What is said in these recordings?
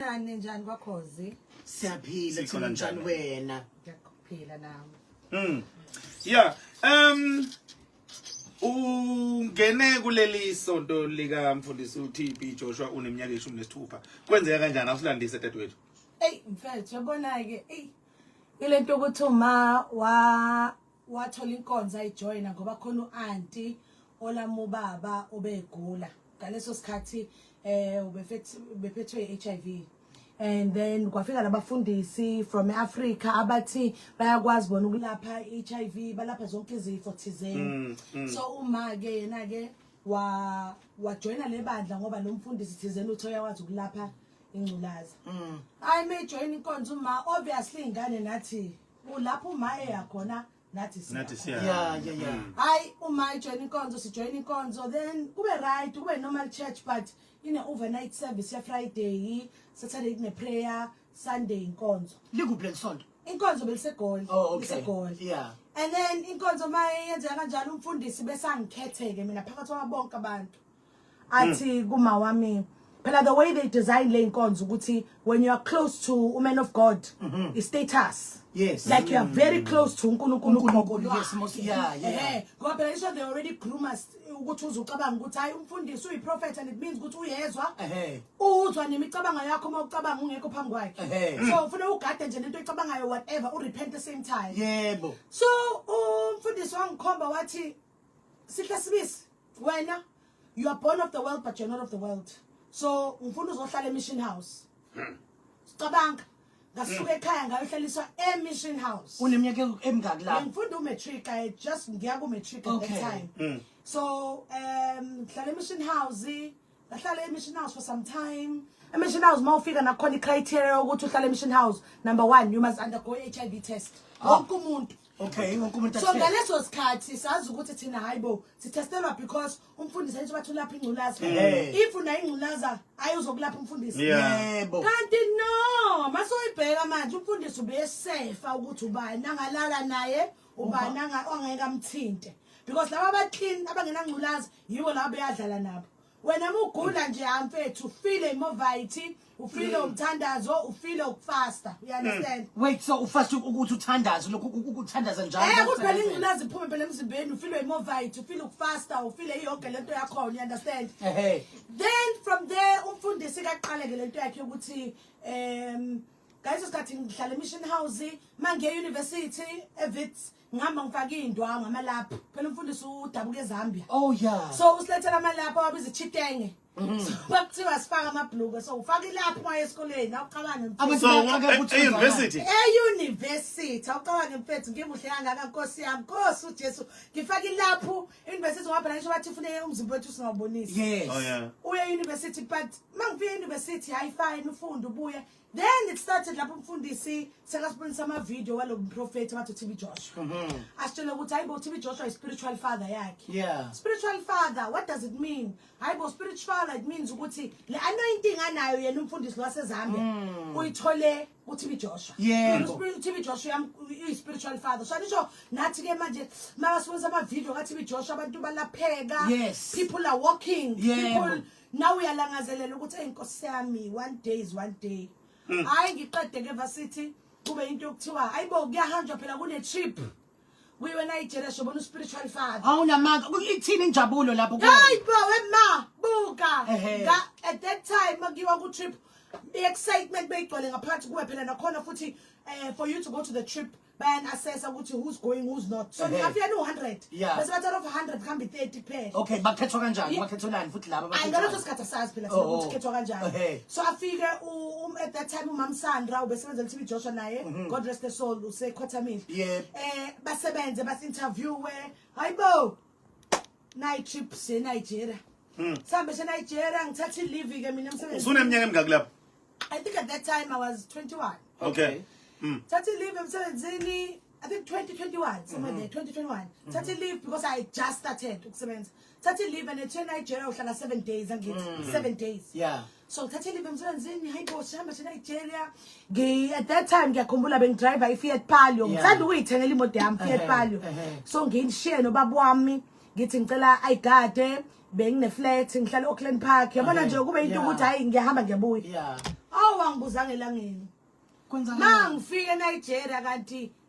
Nani njani kwakhozi? Siyaphila Sikhona thina njani njani. wena. Ngiyakuphila nami. Mm. Yeah. Um ungene kuleli sonto lika mfundisi uTB Joshua uneminyaka ishumi nesithupha. Kwenzeka kanjani awusilandise dadewethu? Ey mfethu yabona ke ey ilento ukuthi uma wa wathola inkonzo ayijoyina ngoba khona u-anti olamu baba obegula ngaleso sikhathi eh ubephethwe i-HIV and then kwafika labafundisi from eAfrica abathi bayakwazi bona ukulapha iHIV balapha zonke izifo thizeni mm, mm. so uma ke yena ke wa wajoina lebandla ngoba lo mfundisi thizeni uthe uyakwazi ukulapha ingculaza mm. i may join inkonzo uma obviously ingane nathi Ulapho uma eya khona nathi siya. Nathi siya. Yeah, yeah, yeah. Mm. Hayi uma ijoin inkonzo sijoin inkonzo then kube right kube normal church but ine overnight service ya Friday, Saturday kune prayer, Sunday inkonzo. Likuphi lesonto? Inkonzo belisegoli. Oh, okay. Isegoli. Yeah. And then inkonzo maye yenzeka kanjalo umfundisi besangikhetheke mina phakathi kwabonke abantu. athi kuma wami phela the way they design le nkonzo ukuthi when you are close to a man of god mm -hmm. is status yes like you are very close to uNkulunkulu uNkulunkulu yes most yeah yeah eh ngoba phela isho they already groomers ukuthi uzucabanga ukuthi hayi umfundisi uyi prophet and it means ukuthi uyezwa eh uzwa nemicabango yakho uma ucabanga ungekho phambi kwakhe so ufuna ugade nje lento oyicabangayo whatever u repent the same time yebo so umfundisi wangikhomba wathi Sihle sibisi wena you are born of the world but you're not of the world so ufuna uzohlala emission house hmm. sicabanga ngasuka hmm. ekhaya ngayohlaliswa emission house uneminyaka emingaki la ngifunda umatric i just ngiya kumatric at okay. that time mm. so um ngihlala emission house Ngahlala emission house for some time. Emission house uma ufika nakhona icriteria yokuthi uhlale emission house number 1 you must undergo HIV test. Ah. Wonke umuntu. Okay, wonke umuntu. So ngaleso sikhathi sazi ukuthi thina hayibo sitestelwa because umfundisi ayithi bathi ulapha ingculaza. If una ingculaza ayozokulapha umfundisi. Yebo. Kanti no, masoyibheka manje umfundisi ubesefa ukuthi ubani angalala naye ubani angeke amthinte. Because laba abaclean abangenangculaza yibo labo beyadlala nabo wena mugula nje hamfethu ufile imovayithi ufile mm. umthandazo ufile ukufasta you understand mm. wait so ufasta ukuthi uthandaze lokhu ukuthandaza njalo eh kuphela ingculazi iphume phela emzimbeni ufile imovayithi ufile ukufasta ufile iyoke lento yakho you understand ehe then from there umfundisi kaqaleke lento yakhe ukuthi um ngaleso sikhathi ngihlala emission house mangiye university evits ngihamba ngifake iy'ndwangu amalaphu phela umfundisi udabuka ezambia oh yeah so usilethela amalaphu awabiza ichitenge kwakuthiwa mm-hmm. sifaka amabhluke so ufaka ilapho uma esikoleni awuqabane mfethu-eyunivesithi eyunivesithi awuqabane mfethu ngimuhle kangaka nkosi yami nkosi ujesu ngifaka ilapho eyunivesithi ngabhela ngisho bathi funeke umzimba wethu singawubonisi oh, uye eyunivesithi but uma ngifika eyunivesithi hayi fine ufunde ubuye then it started lapho umfundisi sekasibonisa amavidiyo walo mprofethi abathi utb joshua mm-hmm. asitshele ukuthi hayi bo utb joshua i-spiritual father yakhe yeah. spiritual father what does it mean hayi bo spiritual father it means ukuthi le anointing anayo yena umfundisi lwasezambia mm. uyithole kuthibi Joshua yebo uthibi Joshua uyi spiritual father so nisho nathi ke manje mabasibonisa ama video kaThibi Joshua abantu balapheka yes. people are walking yebo. people nawe uyalangazelela ukuthi eyi nkosi yami one day is one day mm. hhayi mm. ngiqede ke vasithi kube into yokuthiwa hayi bo kuyahanjwa phela kune-trip kuyiwe nayijele sobona uspiritual father awunamanga ithini injabulo lapho hayi bo wema buka at that time makuyiwa ku-trip i-excitement beyigcwale ngaphakathi kuwe phela nakhona futhi um for you to go to the trip bayan assessa ukuthi who's going who's not so ningafika ni 100 Yeah. bese bathi out of 100 kuhambe 30 kuphela okay bakhethwa kanjani Ye- bakhethwelani futhi laba ayi ngaleso bakhethwani? sikhathi asazi phela Oh, sona oh. ukuthi khethwa kanjani Okay. so afike u- um- at that time umam sandra ubesebenzela tv joshua naye god rest the soul usekhothamile Mhm. Yep. eh basebenze basi-interviewe hayi bo Night trip se Nigeria. Hmm. Sambe se Nigeria ngithatha leave ke mina emsebenzini. Usuneminyaka emingaki lapho? I think at that time I was 21. Okay. Hmm. Thatha leave emsebenzini I think 2021 somewhere there 2021. Thatha leave because I just started ukusebenza. Thatha leave and ethi Nigeria uhlala 7 days angithi 7 days. Yeah. so ngithathe live emsebenzini hayi bo sihamba thina nigeria ngi at that time ngiyakhumbula bengidriver i-fiat palio Yeah. ngithanda ukuyithengela imoto yami fiat Ehhe, palio ehhe. so nginishiye nobaba wami ngithi ngicela ayigade bengineflat ngihlala e-auckland park yabona Ehhe, nje kube into yeah. ukuthi hhayi ngiyahamba ngiyabuya yeah awu angibuzanga elangeni ma kwenzakala ngifike enigeria kanti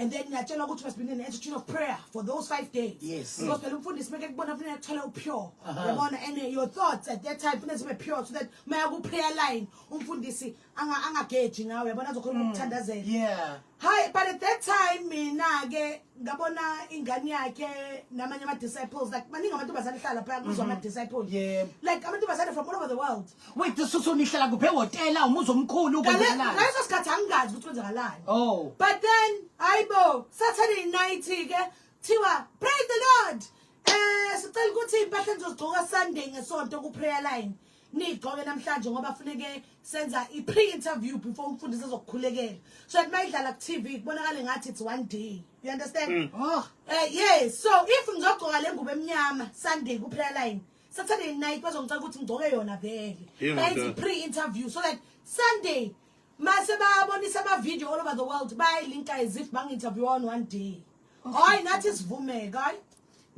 and then niyatshelwa ukuthi must be an attitude of prayer for those five days yes because phela umfundisi meke kubona kufanele athole upure yabona and uh, your thoughts at that time kufanele zibe pure so that maya ku prayer line umfundisi anga angageji ngawe yabona azokhuluma mm. ukuthandazela yeah hi but at that time mina ke ngabona ingane yakhe namanye ama disciples like maningi amantombazane hlala phaya kuzwa ama mm-hmm. disciples yeah like amantombazane from all over the world Wait, this is unihlala kuphe hotela umuzi omkhulu kwenzakalani? Ngaleso sikhathi angingazi ukuthi kwenzakalani. Oh. But then ayibo Saturday night ke thiwa praise the Lord. Eh sicela ukuthi impahla nizozigcoka Sunday ngesonto ku prayer line. Nigcoke namhlanje ngoba funeke senza i pre interview before umfundisi ezokukhulekela. So at mayidlala ku TV kubonakala ngathi it's one day. You understand? Mm. Oh. Eh yes. So if ngizogcoka lengubo emnyama Sunday ku prayer line Saturday night bazongicela ukuthi ngigcoke yona vele. Yebo, Bayenza ndoda. i-pre-interview so that Sunday mase babonisa ama-video all over the world bayayilinka as if bangi-interview on one day. Hayi nathi sivumeka hayi.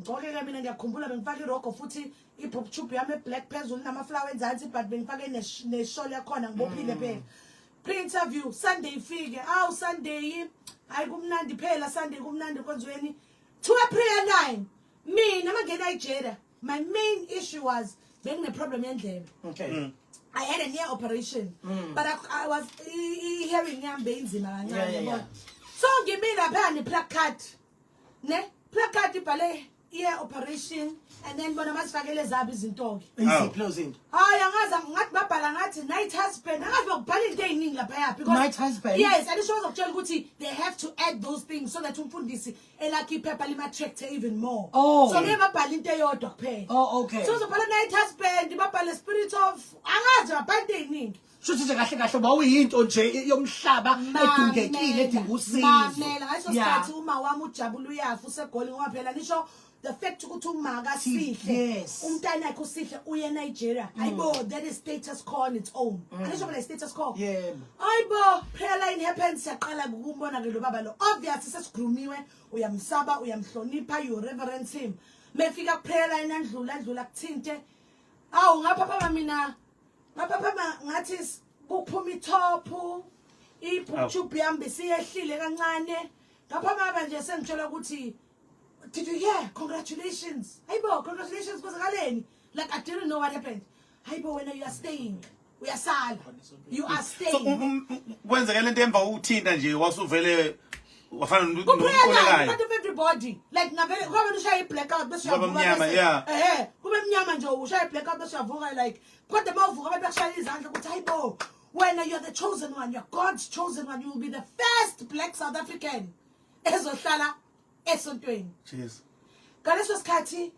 Ngigcoke-ke mina ngiyakhumbula bengifake irogo futhi i-bob tube yami eblack phezulu namaflower enzansi but bengifake nesh- neshol yakhona ngibophile phela. Pre-interview Sunday ifike. Awu Sunday hayi kumnandi phela Sunday kumnandi konzweni. 2 April 9 mina mangena eJeda my main issue was bengineproblem yendlebe okay mm. I had a near operation mm. but I, I was hearing yam beyinzima kancane yeah, yeah, yeah. so ngimi lapha ne placard ne placard ibhale ear operation and then bona masifakele zabi izinto ke iziphi izinto hayi angaza ngathi babhala ngathi night husband angazi bakubhala into eziningi lapha yaphi because night husband yes and isho uzokutshela ukuthi they have to add those things so that umfundisi elakhe iphepha lima-checked even more Oh. so ngeke babhale into eyodwa kuphela Oh, okay. so uzobhala night husband babhale spirit of angazi babhala into ey'ningi shuthi nje kahle kahle uba uyinto nje i- yomhlaba edingekile edinga usizo mamela ngaleso Yeah. sikhathi uma wami ujabula uyafa usegoli ngoba phela nisho the fact ukuthi umaka sihle Yes. Mm. umntanakhe usihle uye enigeria ayibo that is status call on its own anisho phela i-status call yebo Ayibo phela in happens siyaqala ukumbona ke lo baba lo obvious sesigrumiwe uyamsaba uyamhlonipha you reverence him mefika kuphela yena ndlula ndlula kuthinte awu ngapha phama mina ngapha phama ngathi kuphuma ithophu ibhuthube yami bisiyehlile kancane ngapha maba nje sengithola ukuthi did you hear congratulations ayibo congratulations kwenzakaleni like i didn't know what happened hayibo wena you are staying uyasala you are staying so um, um, um, kwenzeka lento emva ukuthinta nje wasuvele wafana nokuqolekayo but everybody like ngavele ngoba wena ushaya i-blackout bese uyavuka yeah eh kube mnyama nje ushaya i-blackout bese uyavuka like kodwa mawuvuka abantu bakushaya izandla ukuthi hayibo wena you're the chosen one you're god's chosen one you will be the first black south african ezohlala esontweni jesu ngaleso sikhathi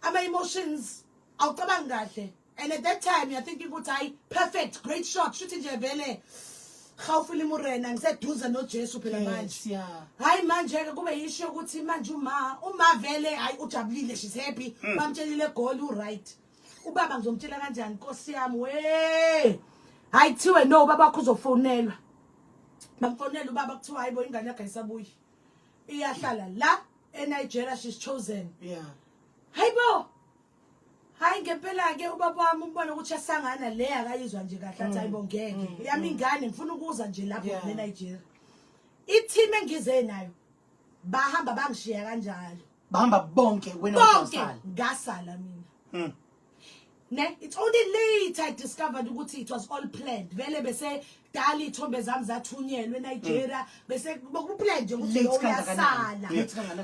ama emotions awucabanga kahle and at that time you're thinking ukuthi hayi perfect great shot shuthi nje vele hawufile imurena ngiseduze nojesu phela manje hayi manje-ke kube yisho ukuthi manje uma uma vele hayi ujabulile she's happy mm. bamtshelile egoli uright ubaba ngizomtshela kanjani nkosi yami we hayi kuthiwe no ubaba wakho uzofonelwa bamfonela ubaba kuthiwa hayi bo ingane yakho ayisabuyi iyahlala la eNigeria she's chosen yeah hayibo hayi ngempela ke ubaba wami umbona ukuthi asangana le akayizwa nje kahle athi hayibo mm. ngeke mm. yami mm. ingane ngifuna ukuza nje lapho yeah. eNigeria i-team engize nayo bahamba bangishiya kanjalo bahamba bonke wena bonke ngasala mina mm. ne it's only later i discovered ukuthi it was all planned vele bese dali ithombe zami zathunyelwe Nigeria mm. bese bokuplan nje ukuthi lo uyasala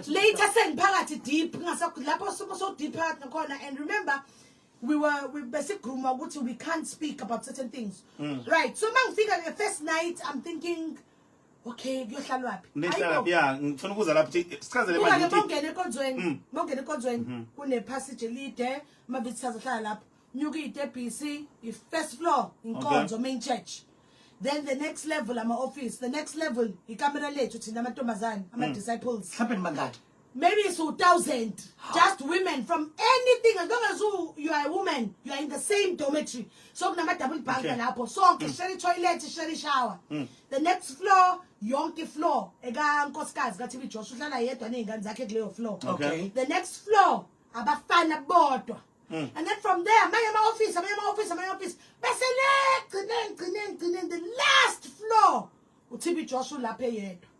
later sengiphakathi deep ngasakho lapho sobo so deep phakathi nakhona and remember we were we besigruma ukuthi we can't speak about certain things mm. right so mangifika the first night i'm thinking okay kuyohlalwaphi nihlalaphi ya ngifuna ukuza lapho sichazele manje ukuthi bongena enkonzweni mm. bongena enkonzweni mm-hmm. kune passage elide mabithi sazohlala lapho nyuka itebhisi i first floor inkonzo main church then the next level ama office the next level ikamera lethu thina amantombazane ama mm. disciples mhlawumbe nibangaki maybe it's 2000 just women from anything as long as you, you are a woman you are in the same dormitory so kunama double bunk okay. lapho sonke mm. share toilet share shower mm. the next floor yonke floor eka nkosikazi ka TV Josh uhlala yedwa nezingane zakhe kuleyo floor okay the next floor abafana bodwa Mm. And then from there, my my office, my my office, my office. Bese le gcine gcine gcine the last floor. uTB Josh ulapha eyedwa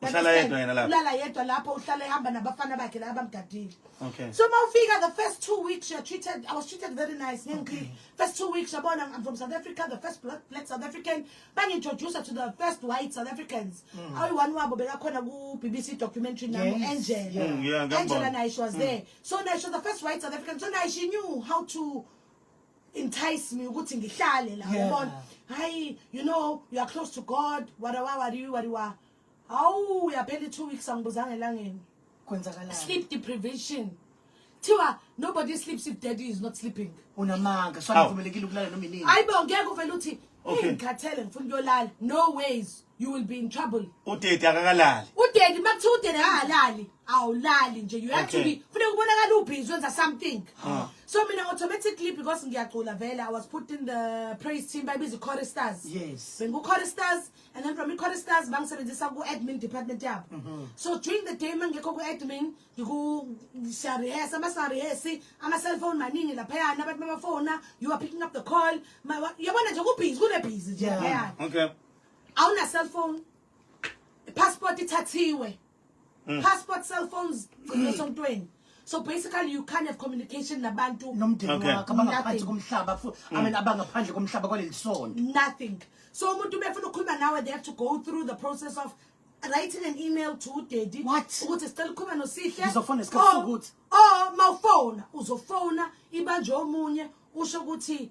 uhlala yedwa yena lapho ulala yedwa lapho uhlala ehamba nabafana bakhe la abamgadile okay so mawufika the first two weeks you're treated i was treated very nice ngengikhile okay. first two weeks yabona i'm from south africa the first black, black south african bangintroduce to the first white south africans mm. awu one wabo bekakhona ku bbc documentary nami yes. angela yeah. Mm, yeah, angela naye she was mm. there so naye she was the first white south african so naye she knew how to entice me ukuthi ngihlale la Yeah. yabona hayi you know you are close to god wadawa wadiwi wadiwa hawu uyaphela i-two weeks angibuzanga elangeni kwenzakalani sleep deprivation thiwa nobody sleeps if daddy is not sleeping unamanga so Awu. anivumelekile ukulala noma inini ayibo ngeke uvele uthi Okay. ingikhathele ngifuna ukuyolala no ways you will be in trouble udedi akakalali udedi makuthiwa udedi akakalali awulali nje you have okay. to be funeka ubonakala ubhizi wenza something huh. so mina automatically because ngiyacula vele i was put in the praise team bayibiza i-choristars yes bengu-choristars and then from i-choristars bangisebenzisa ku-admin department yabo mm -hmm. so during the day mangekho ku-admin siyarehesa uma singarehesi ama-cellphone maningi laphayana abantu babafona you are picking up the call yabona nje kubhizi kunebhizi nje laphayana yeah. okay. awuna cellphone passport ithathiwe mm. passport cellphones gcina sontweni so basically you can't have communication nabantu nomndeni Okay. wakhe abangaphansi komhlaba fu- I mean mm. abangaphandle komhlaba kwaleli sono nothing so umuntu befuna ukukhuluma nawe they have to go through the process of writing an email to udaddy What? ukuthi sicela ukukhuluma nosihle Ngizofona isikhathi Or- sokuthi. or mawufona uzofona ibanjwe omunye usho ukuthi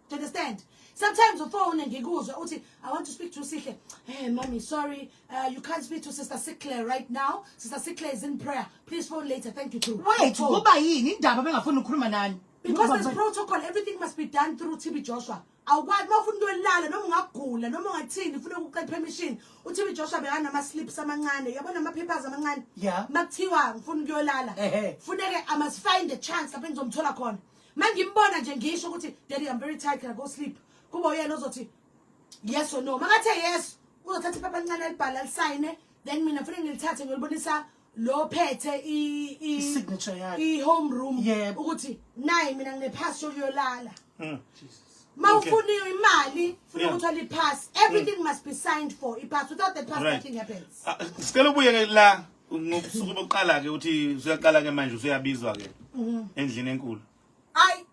Do you understand? Sometimes you phone and you go, I want to speak to Sihle. Hey, mommy, sorry, uh, you can't speak to Sister Sickler right now. Sister Sickler is in prayer. Please phone later. Thank you too. Wait, go by in. In Daba, I'm going to nani. Because there's protocol, everything must be done through TB Joshua. awukwazi uma ufuna into elala noma ungagula noma ungathini ufuna ukucela permission uthi uJoshua Joshua bekanama slips amancane uyabona ama papers amancane yeah makuthiwa ngifuna ukuyolala funeke i must find a chance lapho ngizomthola khona Mangimbona nje ngisho ukuthi daddy I'm very tired can I go sleep. Kuba uyena ozothi yes or no. Makathe yes uzothatha iphepha elincane elibhala lisayine then mina ngifuna ngilithathe ngilibonisa lo phethe i i signature yakhe i home room yep. ukuthi nayi mina nginephasi yokuyolala mm. Jesus mawufuna okay. imali funa yeah. ukuthola ipass everything mm. must be signed for ipass without the pass right. nothing happens ah, sicela ubuye la ngobusuku bokuqala-ke uthi usuyaqala-ke manje usuyabizwa-ke mhm. endlini enkulu ayi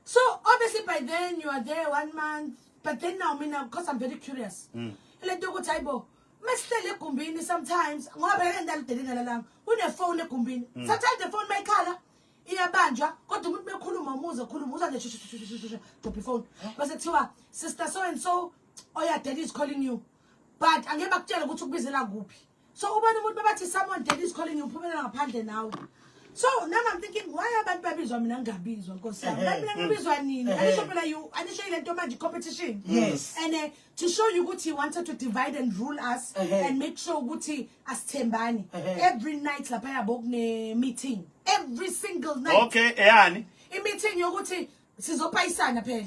so obviously by then you are there one month but then now mina because i'm very curious mm. ile nto yokuthi hayi bo mesihlele egumbini sometimes ngoba phela endalidelela lalanga kunefoni egumbini mm. sometimes the phone mayikhala iyabanjwa kodwa umuntu bekhuluma umuze khuluma uza nje dobha ifoni base kuthiwa sister so and so oyadela is calling you but angeke bakutshele ukuthi ukubizela kuphi so ubona umuntu babathi someone dead is calling ngiphumelela ngaphandle nawe so now i'm thinking why abantu babizwa mina ngingabizwa nkosi yami abantu mina ngibizwa nini anisho phela you anisho ile nto manje competition yes and uh, to show you ukuthi he wanted to divide and rule us uh -huh. and make sure ukuthi asithembani uh -huh. every night lapha yabo kune meeting every single night okay eyani i meeting yokuthi sizopayisana phela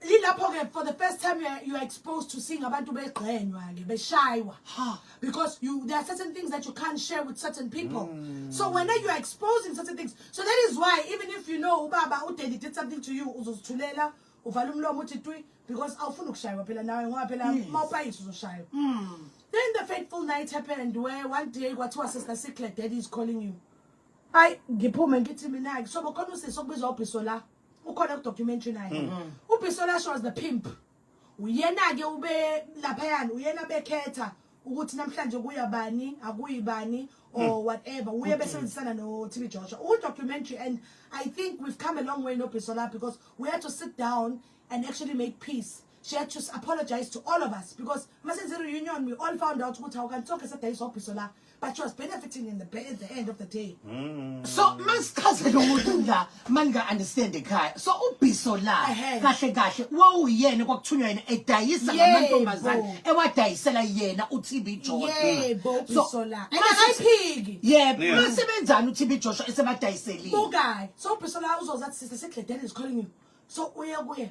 ilapho ke for the first time you are, you are exposed to seeing abantu begxenywa ke beshaywa because you there are certain things that you can't share with certain people mm. so when you are exposing certain things so that is why even if you know ubaba udeli did something to you uzozithulela uvala umlomo uthi twi because awufuni ukushaywa phela nawe ngoba phela mawupayisa uzoshaywa mm. then the fateful night happened where one day kwathiwa sister secret daddy is calling you ayi ngiphume ngithi mina-ke so bokhona usisi okubizwa ubhiso la ukhona ku documentary naye mm-hmm. ubisola shows the pimp uyena ke ube lapha yani uyena bekhetha ukuthi namhlanje kuya bani akuyi bani or hmm. whatever uye besebenzisana no TV Joshua u documentary and i think we've come a long way no Bisola because we had to sit down and actually make peace she had to apologize to all of us because masenze reunion we all found out ukuthi awukantsonke sedayisa obhiso la but she was benefiting in the, ba- at the end of the day Mm. so masichazele umuntu la maninga-understand ekhaya so ubhiso la Ehhe. kahle kahle wawuyena kwakuthunywa yena edayisa Yebo. ngamantombazane ewadayisela yena utb yebo ubhiso la and akayiphiki yebo Yeah. masebenzani utb joshua esebadayiselile bukayi so ubhiso la uzozathi sise segledeni is calling you so uye kuye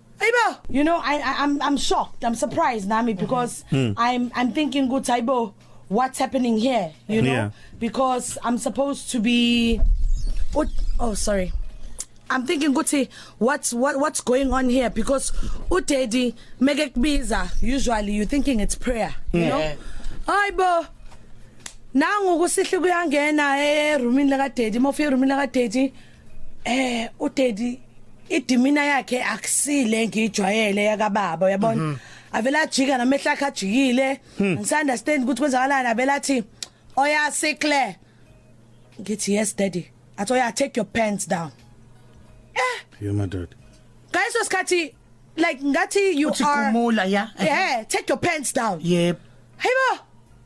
Ayibo. You know I, I I'm I'm shocked. I'm surprised nami because mm. I'm I'm thinking good ayibo what's happening here, you know? Yeah. Because I'm supposed to be oh, oh sorry. I'm thinking ukuthi what's what what's going on here because udaddy make kubiza usually you thinking it's prayer, you yeah. know? Ayibo nangu kusihle kuyangena eroomini laka daddy mofika eroomini laka daddy eh udedi idimina yakhe akusile ngijwayele yakababa uyabona mm -hmm. avela ajika namehla akhe ajikile hmm. ngisunderstand ukuthi kwenzakalani avela athi oyasikle ngithi yes daddy athi oya take your pants down eh yeah my dad guys wasikhathi like ngathi you Uthi are kumula ya yeah take your pants down yep hayibo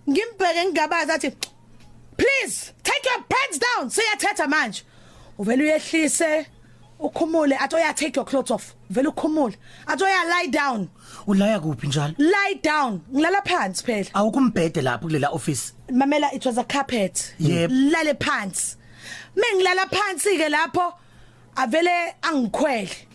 ngimbheke ngigabaza athi please take your pants down siyathetha manje uvela uyehlise ukhumule athi oya take your clothes off vele ukhumule athi oya lie down ulaya kuphi njalo lie down ngilala phansi phela awukumbhede lapho kulela office mamela it was a carpet yep. lale phansi mengilala phansi ke lapho avele angikhwele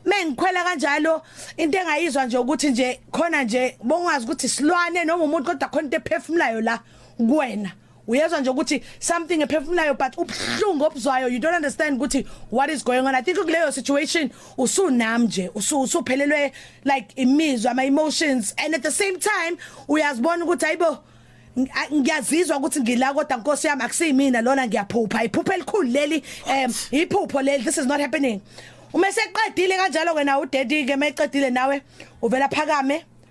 mengikhwela kanjalo into engayizwa nje ukuthi nje khona nje bongazi ukuthi silwane noma umuntu kodwa khona into ephefumulayo la kuwena uyezwa nje ukuthi something ephefumulayo but ubuhlungu obuzwayo you don't understand ukuthi what is going on i think kuleyo situation usunam nje usuphelelwe like imizwa ama emotions and at the same time uyazibona ukuthi ayibo ngiyazizwa ukuthi ngila kodwa nkosi yami akusiyimina lona ngiyaphupha iphupha elikhulu leli um iphupho leli this is not happening uma seqedile kanjalo wena udaddy ke mayiqedile nawe uvela phakame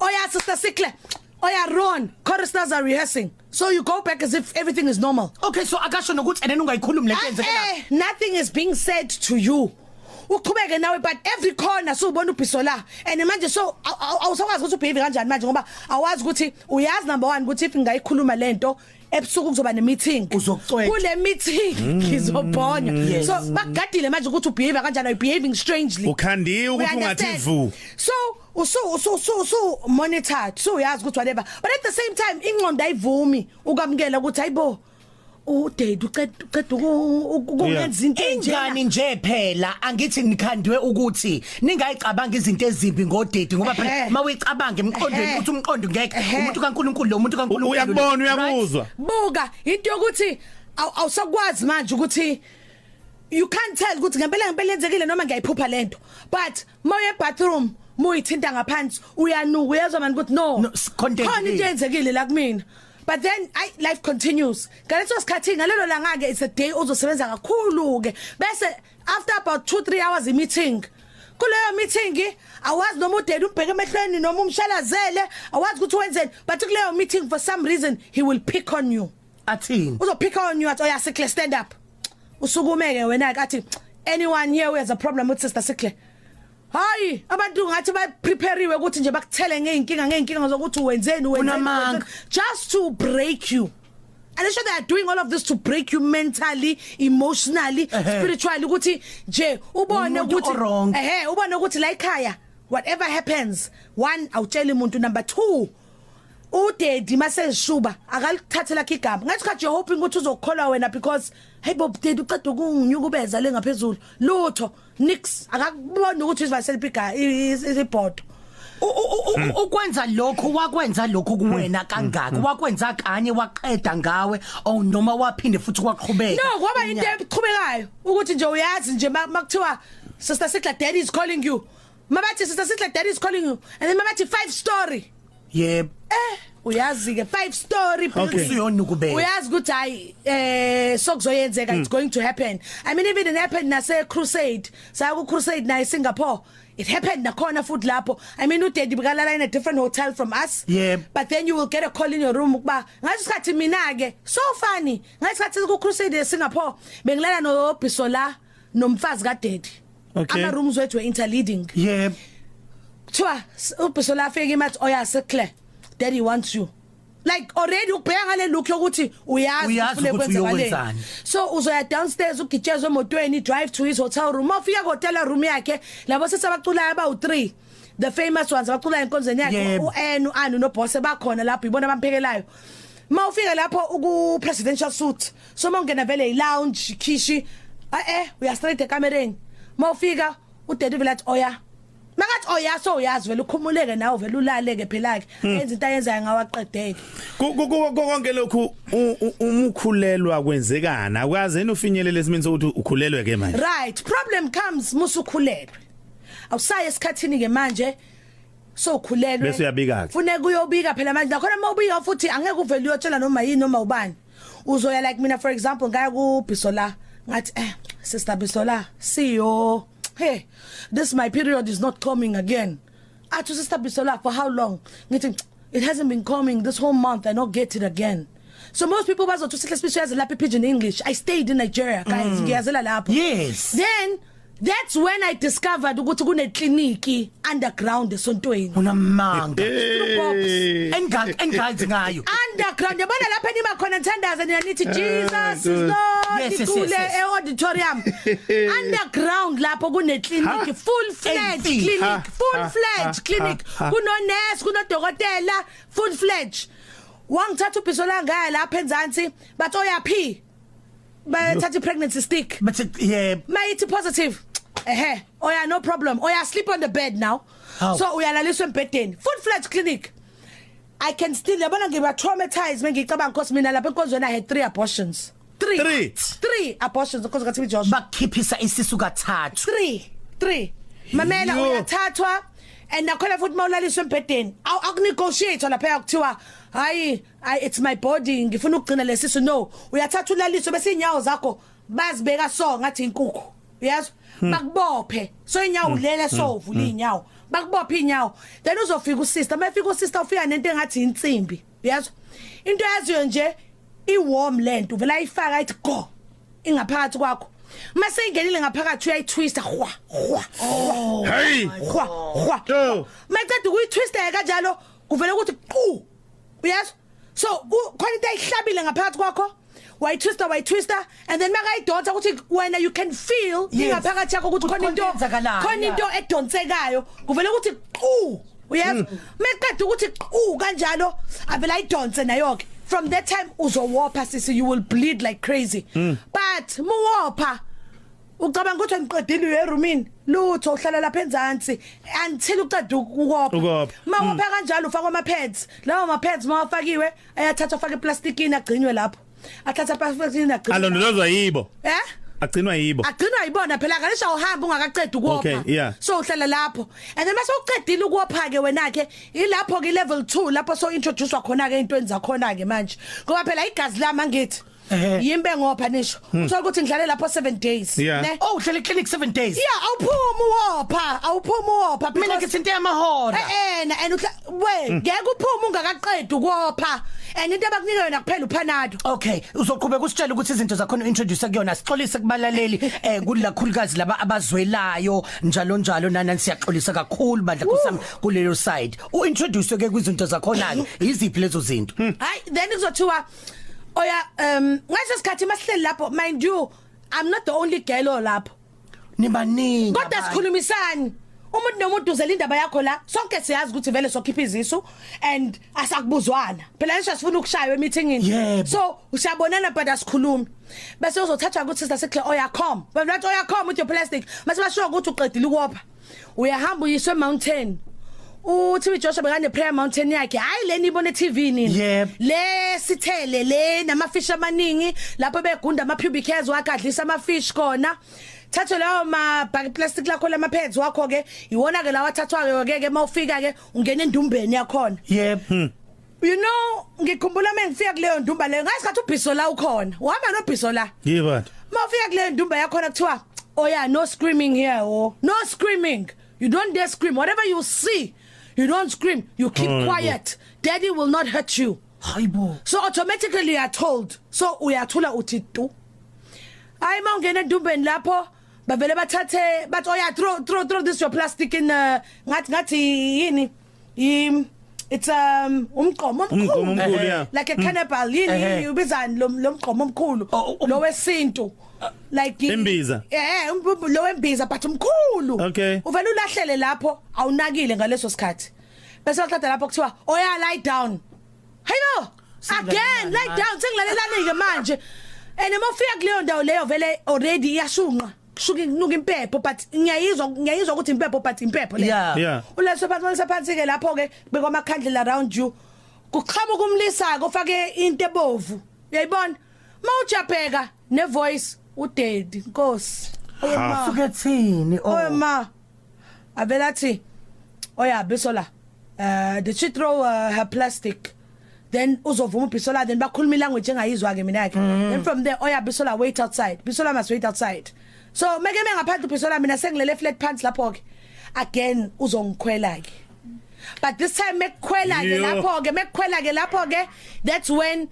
Oh yeah, Sister Sikle. Oh yeah, Ron. Choristers are rehearsing. So you go back as if everything is normal. Okay, so akasho nokuthi and then ungayikhulumi lento yenzeke la. Eh, nothing is being said to you. uqhubeke nawe but every corner subona ubhiso la and manje so awusakwazi ukuthi ubehave kanjani manje ngoba awazi ukuthi uyazi number 1 ukuthi if ngayikhuluma lento ebusuku kuzoba nemeeting Uzokucwetshwa. kule meeting ngizobhonya so bagadile manje ukuthi ubehave kanjani are behaving strangely Ukhandiwe ukuthi We ungathi understand. vu. so usu usu usu usu monitor so uyazi ukuthi whatever but at the same time ingqondo ayivumi ukamkela ukuthi hayibo udade uceda uceda uku- uku- ukungenza into enjena ingani nje phela angithi nikhandwe ukuthi ningayicabanga izinto ezimbi ngodedi ngoba phela Ehhe. mawuyicabanga emqondweni Ehhe. ukuthi umqondo ngeke Ehhe. umuntu kaNkuluNkulu lo muntu kaNkuluNkulu Uyakubona, uyakuzwa. buka into yokuthi aw- awusakwazi manje ukuthi you can't tell ukuthi ngempela ngempela yenzekile noma ngiyayiphupha lento but mawuye bathroom muyithinta ngaphansi uyanuka uyezwa manje ukuthi no No, s- content khona into yini? yenzekile la kumina but then ay life continues ngaleso sikhathi ngalelo langa ke it's a day ozosebenza kakhulu ke bese after about 2 3 hours i meeting kuleyo meeting awazi noma udeli umbheke emehlweni noma umshalazele awazi ukuthi wenzeni but kuleyo meeting for some reason he will pick on you athini uzophika on you athi oyasikle oh, stand up usukumeke wena ke athi anyone here who has a problem with sister sikle Hayi abantu ngathi ba prepariwe ukuthi nje bakuthele ngeenkinga ngeenkinga zokuthi wenzeni wenzeni just to break you and they sure they are doing all of this to break you mentally emotionally uh -huh. spiritually ukuthi nje ubone ukuthi ehe ubone ukuthi la ekhaya whatever happens one awutshela umuntu number 2 udedi maseshuba akalithathe lakhe igama ngathi khathi you're hoping ukuthi uzokholwa wena because hey bob dedi uqeda ukunginyukubeza le ngaphezulu lutho nix akakuboni ukuthi izivaseliphi iga ibhodo Hmm. ukwenza lokho wakwenza lokho kuwena hmm. kangaka hmm. wakwenza kanye waqeda ngawe oh noma waphinde futhi kwaqhubeka no kwaba into eqhubekayo ukuthi nje uyazi nje makuthiwa sister Sigla daddy is calling you Mabathi sister sihle daddy is calling you and then mabathi five story. Yep. Eh uyazi ke five story building uyona ukubeka uyazi ukuthi hayi eh sokuzoyenzeka it's hmm. going to happen i mean even it happened nase crusade saya ku crusade na singapore it happened nakhona futhi lapho i mean udaddy bukalala in a different hotel from us yeah. but then you will get a call in your room ukuba ngathi sikhathi mina ke so funny ngathi sikhathi ku crusade singapore bengilala no bisola nomfazi ka daddy Okay. ama rooms wethu interleading Yep. kuthiwa s- ubhiso lafika imathi oyasekle daddy wants you like already ubheka ngale look yokuthi uyazi Uyazi ufune ukuthi kwenza malini. uyokwenzani. so uzoya downstairs ugitshezwe emotweni drive to his hotel room mawufika ku hotel room yakhe labo sisi abaculayo abawu 3 the famous ones abaculayo enkonzweni yakhe Yebo. uN uAnu noBoss bakhona lapho ibona abamphekelayo mawufika lapho uku presidential suit so mawungena vele ilounge khishi a eh uya straight ekamereni mawufika udade vele athi oya oh, Makathi oyaso oh, uyazi vele ukhumuleke nawe vele ulaleke phela ke hmm. enza into ayenzayo ngawaqedeke. Konke lokhu umukhulelwa kwenzekana ukaze enofinyelele esimini sokuthi ukhulelwe ke manje. Right, problem comes musukhulelwe. Awusaye esikhathini ke manje so ukhulelwe. Bese uyabika ke. Funeka uyobika phela manje nakhona uma ubika futhi angeke uvele uyotshela noma yini noma ubani. uzoya like mina for example ngaya ku Bisola ngathi eh sister Bisola siyo hey this my period is not coming again athi sister Bisola for how long ngithi it hasn't been coming this whole month i not get it again so most people bazothi sihle sibisho yazi lapha pigeon english i stayed in nigeria guys mm. ngiyazela lapho yes then That's when I discovered ukuthi kune clinic underground esontweni. Unamanga. Hey. Engang engazi ngayo. Underground yabona lapha nima khona nthandaza nina nithi ah, Jesus is Lord. Yes, yes, yes, yes. E auditorium. underground lapho kune clinic full fledged clinic, full fledged clinic. Kuno nurse, kuno dokotela, full fledged. Wangithatha ubhiso la ngaya lapha enzansi, bathi oyaphi? bayathatha ipregnancy stick but yeah mayithi positive ehe oya no problem oya sleep on the bed now How? so uyalaliswa embhedeni food flat clinic i can still yabona ngiba traumatized mengicabanga inkosi mina lapha enkonzweni i had 3 abortions 3 Three. 3 abortions inkosi kaThimi Joshua bakhiphisa isisu kathathu 3 3 mamela Yo. uyathathwa and nakhona futhi mawulaliswa embhedeni aw- akunegotiate lapha yakuthiwa hayi I it's my body ngifuna ukugcina lesisu no uyathatha ulaliso bese inyawo zakho bazibeka so ngathi inkukhu uyazwa hmm. bakubophe so inyawo hmm. lele so hmm. uvula inyawo bakubophe inyawo then uzofika usister mayefika usister ufika nento engathi insimbi uyazwa into yaziyo nje iwarm lento vela ayifaka ayithi go ingaphakathi kwakho mase ingenile ngaphakathi uyayitwista hwa hwa oh. hey hwa hwa maceda ukuyitwista kanjalo kuvela ukuthi qu uyezwa so khona into ayihlabile ngaphakathi kwakho why twister why twister and then makayidonsa ukuthi wena you can feel ingaphakathi yakho ukuthi khona into khona into edonsekayo kuvela ukuthi qhu uyezwa mm. meqeda ukuthi qhu kanjalo avela idonse nayo ke from that time uzowopha sisi you will bleed like crazy mm. but muwopha Ucabanga ukuthi ngiqedile uye roomini lutho uhlala lapha enzansi until uqeda ukukopha mawopha mm. kanjalo ufaka ama pads lawo ma pads mawafakiwe ayathathwa afake eplastikini agcinwe lapho athatha eplastikini agcinwe alondolozwa yibo eh agcinwa yibo agcinwa yibona phela ngalesha uhamba ungakaqedi ukopha okay, yeah. so uhlala lapho and then mase uqedile ukopha ke wena ke ilapho ke level 2 lapho so introduce khona ke into enza khona ke manje ngoba phela igazi lami angithi Ehe. yimbe ngopha nisho uthola ukuthi ngidlale lapho 7 days Hmm. Yeah. ne Oh uhlele clinic 7 days. yeah awuphumi uwopha awuphumi uwopha Mina because- ngithinta amahora. Eh ena and uhla Hmm. we ngeke uphuma ungakaqedi ukopha and into abakunika yona kuphela uphanado Okay, uzoqhubeka usitshela ukuthi izinto zakho introduce kuyona sixolise kubalaleli eh kulakhulukazi laba abazwelayo njalo njalo nana siyaxolisa kakhulu bandla kusami kulelo side. U introduce ke kwizinto zakho nake iziphi lezo zinto? hayi then kuzothiwa oya um ngase sikhathi masihleli lapho mind you i'm not the only girl olapho nibaningi kodwa sikhulumisani umuntu nomuntu uzela indaba yakho la sonke siyazi ukuthi vele sokhipha izisu and asakubuzwana phela ngisho sifuna ukushaywa emeetingini yep. so usiyabonana but asikhulumi bese uzothathwa ukuthi sister sikhle oyacom bathi oyacom with your plastic mase basho ukuthi uqedile ukopha uyahamba uyiswa emountain uThibi Joshua bekane prayer mountain yakhe hayi leni ibone TV nini Yep. le sithele le nama fish amaningi lapho begunda ama pubic hairs wakhe adlisa ama fish kona thathe lawo ma bag plastic lakho lama pads wakho ke iwona ke lawa thathwa ke ke mawufika ke ungena endumbeni yakhona Yep. Hmm. You know ngikhumbula mengifika kuleyo ndumba leyo ngasikhathi ubhiso la ukhona. Uhamba nobhiso la. Yibani? Mawufika kuleyo ndumba yakhona kuthiwa oh yeah no screaming here oh no screaming. You don't dare scream whatever you see. You don't scream. You keep oh, quiet. Bo. Daddy will not hurt you. Hayibo. So automatically you are told. So uyathula uthi tu. Hayi mawungena endumbeni lapho bavele bathathe bathi oh yeah throw throw throw this your plastic in uh, ngathi ngathi yini im it's um umgqomo Umgqomo omkhulu omkhulu, yeah. like a cannibal yini Ehhe. ubizani lo lo mgqomo omkhulu Oh, oh, um- lo wesintu like i- Imbiza. eh um- um- lo wembiza but umkhulu Okay. uvela ulahlele lapho awunakile ngaleso sikhathi bese waqeda lapho kuthiwa oya lie down hayibo again lie down sengilalelanike manje and uma ufika kuleyo ndawo leyo vele already iyashunqa kusuke kunuka impepho but ngiyayizwa ngiyayizwa ukuthi impepho but impepho le Yeah. Yeah. uleso phansi uleso phansi ke lapho ke beka amakhandlela around you kuqhamuka umlisa ko fake into ebovu uyayibona mawujabheka ne voice udedi nkosi oyema Suke thini oh. oyema avela thi oya bisola uh did she throw uh, her plastic then uzovuma ubisola then bakhuluma language engayizwa ke mina ke mm. then from there oya bisola wait outside bisola must wait outside so meke mengaphandle ubisola mina sengilele flat pants lapho ke again uzongikhwela ke but this time mekukhwela ke lapho ke mekukhwela ke lapho ke that's when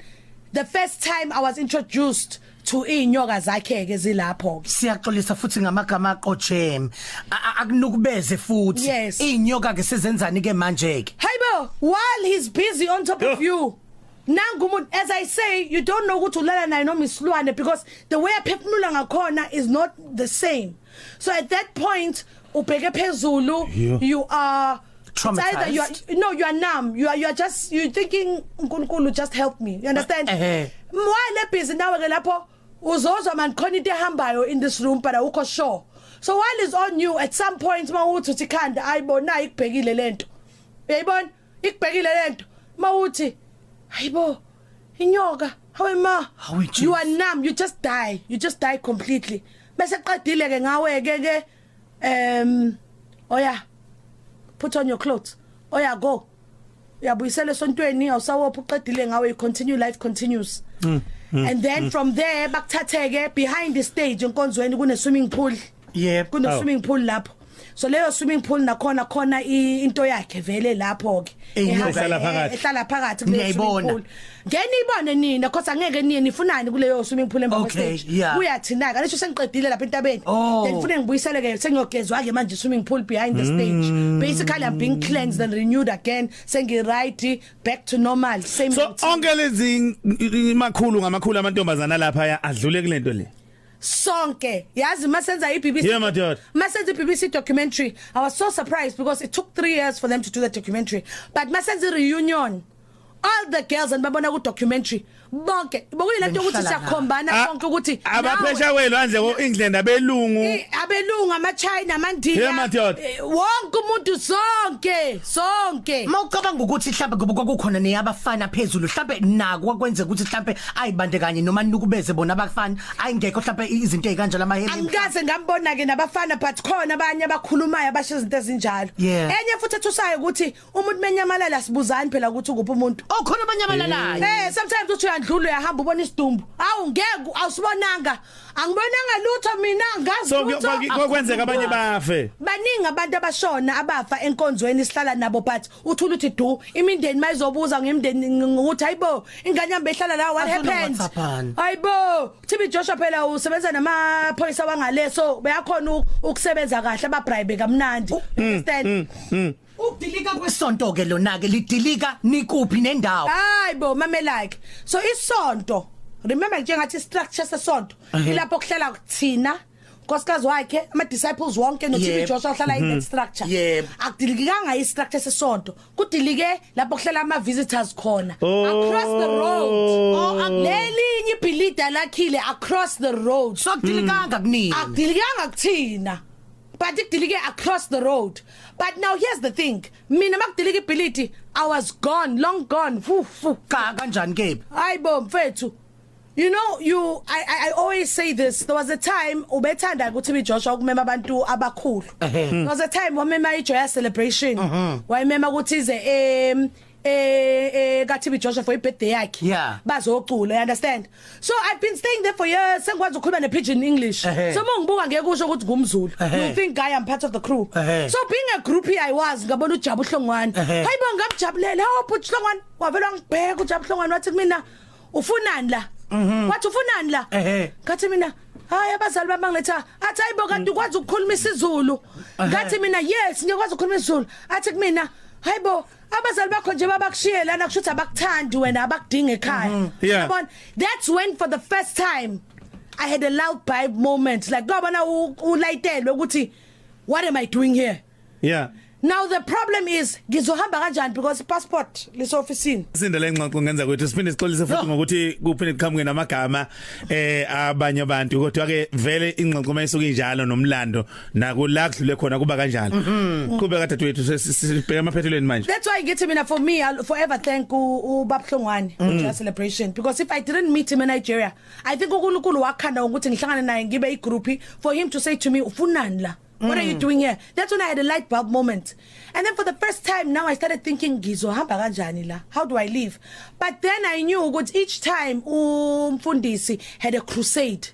the first time i was introduced to inyoka zakhe ke zilapho ke siyaxolisa futhi ngamagama aqojem akunukubeze futhi yes. inyoka ke sizenzani ke manje ke hayibo while he's busy on top of you nangu umuntu as i say you don't know ukuthi ulala naye noma isilwane because the way aphefumula ngakhona is not the same so at that point ubheke phezulu yeah. you are traumatized you are, no you are numb you are you are just you thinking uNkulunkulu just help me you understand eh why le busy nawe ke lapho uzozwa man khona into ehambayo in this room but awukho sure so while is on you at some point mawuthi uthi khanda ayibona ikubhekile lento uyayibona ikubhekile lento mawuthi hayibo inyoka hawe ma you are numb you just die you just die completely bese qedile ke ngawe ke ke um oya put on your clothes oya go uyabuyisela esontweni awusawopha uqedile ngawe you continue life continues mm, mm, and then mm. from there bakuthatheke behind the stage enkonzweni kune swimming pool yebo kuno swimming pool lapho so leyo swimming pool nakhona khona into yakhe vele lapho ke ehlala phakathi ehlala phakathi kule swimming pool ngene ibone nina khosa ngeke niye nifunani kuleyo swimming pool emva kwestage uyathina ka lesho sengiqedile lapha entabeni oh. then ngifune ngibuyisele ke sengiyogezwa ke manje swimming pool behind the stage mm. basically i'm being cleansed and renewed again sengi right back to normal same so onke lezi makhulu ngamakhulu amantombazana lapha adlule kulento le sonke yazi masenza iBBC yeah, madoda masenza iBBC documentary i was so surprised because it took 3 years for them to do the documentary but masenza reunion all the girls and babona ku documentary bonke bokuyilento ukuthi siyakhombana ah, konke ukuthi abaphesha kwenu andle ko England abelungu abelungu ama China amandila eh, wonke umuntu sonke sonke mawucabanga ukuthi mhlawumbe ngoba kwakukhona neyabafana phezulu mhlawumbe naku kwakwenze ukuthi mhlawumbe ayibande kanye noma nukubeze bona abafana ayingekho mhlawumbe izinto ezikanjalo amahele angikaze ngambona ke nabafana but khona abanye abakhulumayo abasho izinto ezinjalo enye futhi ethusayo ukuthi umuntu menyamalala sibuzani phela ukuthi ukuphi umuntu okhona abanyamalalayo eh sometimes uthi uyandlula uyahamba ubona isidumbu awu ngeke awusibonanga Angibonanga lutho mina ngazi So lutho. kuyo- kuyo- kwenzeka abanye bafe. Baningi abantu abashona abafa enkonzweni sihlala nabo but uthula uthi du imindeni mayizobuza ngemndeni ng- ukuthi hayibo ingane yami behlala la what Afuna happened uWhatsAppani. hayibo TB Joshua phela usebenza namaphoyisa wangaleso beyakhona u- ukusebenza kahle ababribe kamnandi understand Ukudilika kwesonto ke lona ke lidilika nikuphi nendawo? Hayi bo mamelake. So isonto remember njengathi structure sesonto ilapho kuhlala kuthina nkosikazi wakhe ama disciples wonke no TB Joshua uhlala in that structure Yebo. akudilikanga i structure sesonto kudilike lapho kuhlala ama visitors khona across the road oh akulelinye ibhilida lakhile across the road So kudilikanga kunini? akudilikanga kuthina but idilike across the road but now here's the thing mina makudilika ibhilidi i was gone long gone fu fu cha kanjani kebi hayibo mfethu You know you I I, I always say this there was a time ubethanda ukuthi bi Joshua ukumema abantu abakhulu there was a time wamema ijoya celebration wayemema ukuthi ize em eh eh ka TB Joshua for ibirthday yakhe Yeah. bazocula you understand so i've been staying there for years sengikwazi ukukhuluma ne pidgin english Ehhe. so mongibuka ngeke usho ukuthi ngumzulu Ehhe. you think guy i'm part of the crew Ehhe. so being a group i was ngabona ujabu hlongwane Ehhe. hayibo ngamjabulela oh bhuti hlongwane wavela ngibheka ujabu hlongwane wathi kumina ufunani la wathi ufunani la Mhm. Ehhe. ngathi mina hayi abazali bami bangiletha athi hayibo Mm. kanti ukwazi ukukhuluma isizulu ngathi mina yes ngiyakwazi ukukhuluma isizulu athi kumina hayibo abazali bakho nje babakushiye lana kusho ukuthi abakuthandi wena abakudinga ekhaya Mhm. Yeah. yabona that's when for the first time i had a loud vibe moment like kwabona u- ulayitelwe ukuthi what am i doing here yeah now the problem is ngizohamba kanjani because ipassport lise officeini Sinde lengxoxo ngenza kwethu siphinde sixolise futhi ngokuthi kuphinde kuqhamuke namagama eh abanye abantu kodwa ke vele ingxoxo mayisuke injalo nomlando nako la kudlule khona kuba kanjalo mhm. qhube ka dadwethu sibheka amaphethelweni manje that's why ngithi mina for me I'll forever thank ubabhlongwane for mm. celebration because if i didn't meet him in Nigeria i think uNkulunkulu wakhanda ukuthi ngihlangane naye ngibe i group for him to say to me ufunani la What are you mm. doing here? That's when I had a light bulb moment. And then for the first time now I started thinking ngizohamba kanjani la? How do I live? But then I knew ukuthi each time umfundisi had a crusade.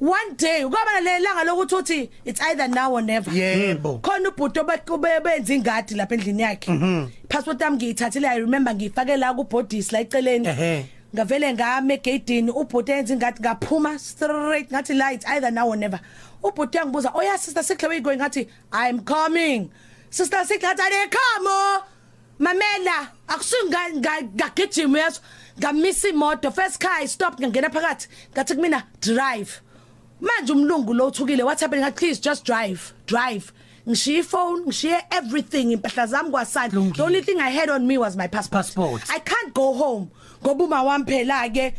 one day ukaba lelanga lokuthi uthi it's either now or never yebo hmm. khona ubhuti obenza ingadi lapha endlini yakhe mhm. passport yami ngiyithathile i remember ngiyifake la ku bodies la eceleni ngavele ngame egedini ubhuti enza ingadi ngaphuma straight ngathi la it's either now or never ubhuti yangibuza oh yeah sister sikhle we going ngathi i'm coming sister sikhle ngathi i come oh. mamela akusingagijima yazo ngamisa imoto first car i stop ngangena phakathi ngathi kumina drive manje umlungu lo uthukile what happened ngathi please just drive drive ngishiye ifone ngishiye everything impahla zami kwasani the only thing i had on me was my passport, passport. i can't go home ngoba uma wami phela ke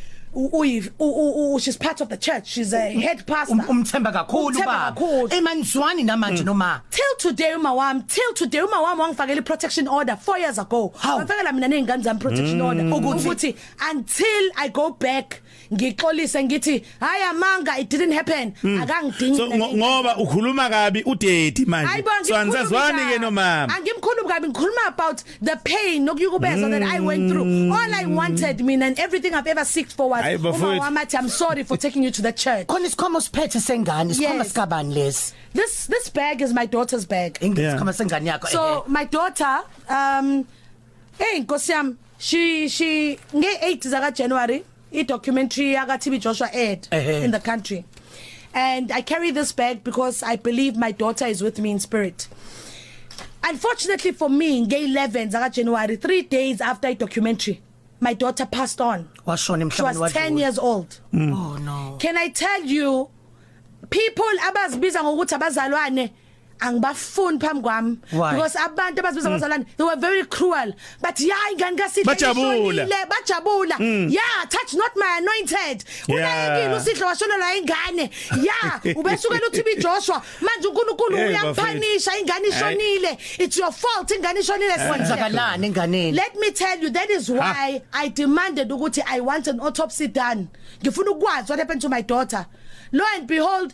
she's part of the church she's a head pastor umthemba kakhulu baba emanzwani namanje mm. noma till today uma wami till today uma wami wangifakela protection order 4 years ago wafakela mina nezingane zami protection mm. order ukuthi until i go back ngixolise ngithi hayi amanga it didn't happen mm. akangidingi so, ngoba ukhuluma kabi udedi manje so anizazwani ke nomama angimkhulumi kabi ngikhuluma about the pain nokuyukubeza mm. that i went through hmm. all i wanted mina and everything i've ever seeked for was uma wamathi i'm sorry for taking you to the church khona isikhomo siphethe sengane isikhoma yes. sikabani lesi this this bag is my daughter's bag ingane yeah. isikhoma sengane yakho so eh. my daughter um Hey nkosi yami she she nge 8 zaka January i documentary yaka TB Joshua aired Ehhe. in the country and I carry this bag because I believe my daughter is with me in spirit Unfortunately for me nge 11 zaka January 3 days after i documentary my daughter passed on washona she was emhlabeni 10 wadlula years old oh no can I tell you people abazibiza ngokuthi abazalwane angibafuni phambi kwami because abantu abazibiza hmm. abazalwane they were very cruel but yeah ingane kaSihle bajabula bajabula hmm. yeah touch not my anointed unayekile uSihle washonela ingane yeah ubesukela uthi biJoshua manje uNkulunkulu uyaphanisha ingane ishonile it's your fault ingane ishonile sikwenzakalaani enganeni let me tell you that is why i demanded ukuthi i want an autopsy done ngifuna ukwazi what happened to my daughter lo and behold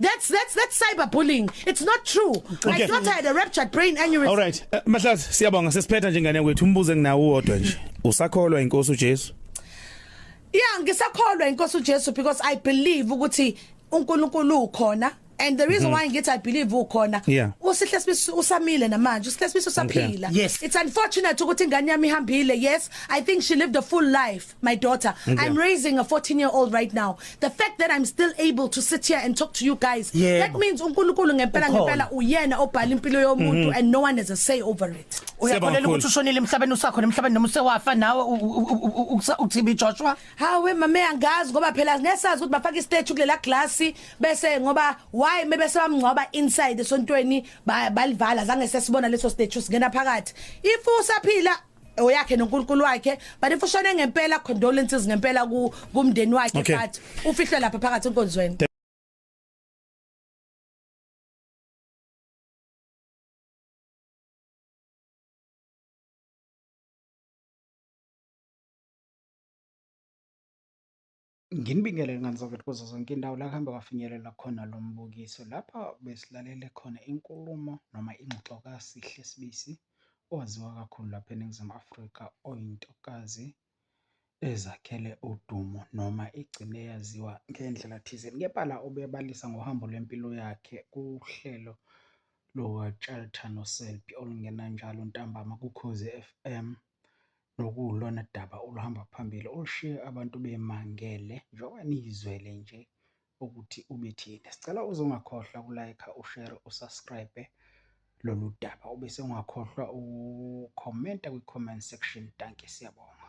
That's that's that's cyberbullying. It's not true. My Okay. daughter had a ruptured brain aneurysm. All right. Uh, Mahlazi siyabonga sesiphetha nje ngane kwethu umbuzo enginawo wodwa nje. Usakholwa inkosi uJesu? Yeah, ngisakholwa inkosi uJesu because I believe ukuthi uNkulunkulu ukhona and the reason why ngithi I believe ukhona Mhm. Yeah. usihle sibisi usamile namanje usihle sibisi usaphila Yes. it's unfortunate ukuthi ingane yami ihambile yes I think she lived a full life my daughter okay. i'm raising a 14 year old right now the fact that i'm still able to sit here and talk to you guys yeah. that means uNkulunkulu ngempela ngempela uyena obhala impilo yomuntu mm -hmm. and no one has a say over it uyakholela ukuthi ushonile emhlabeni usakho nemhlabeni noma usewafa nawe uTB Joshua hawe mama angazi ngoba phela ngesazi ukuthi bafaka istatue kulela glass bese ngoba why mebe sebamngcwaba inside esontweni balivala zange sesibona leso statue singena phakathi if usaphila oyakhe noNkulunkulu wakhe but if ushone ngempela condolences ngempela ku kumndeni wakhe okay. but ufihlwe lapha phakathi enkonzweni Nginibingelele ngani zakwethu kuzo zonke indawo la kuhambe kwafinyelela khona lo mbukiso. Lapha besilalele khona inkulumo noma ingxoxo kaSihle Sibisi owaziwa kakhulu lapha eNingizimu Afrika oyintokazi ezakhele udumo noma igcine eyaziwa ngendlela thizeni. Kepha la ubebalisa ngohambo lwempilo yakhe kuhlelo lukaTshatha noSelby olungena njalo ntambama kuKhozi FM nokuwulona daba oluhamba phambili olushiye abantu bemangele njengoba niyizwele nje ukuthi ubethini. Sicela uze ungakhohlwa kulayikha, ushere, usubscribe lolu daba ube sewungakhohlwa ukhomenta kwi-comment section. Dankie, siyabonga.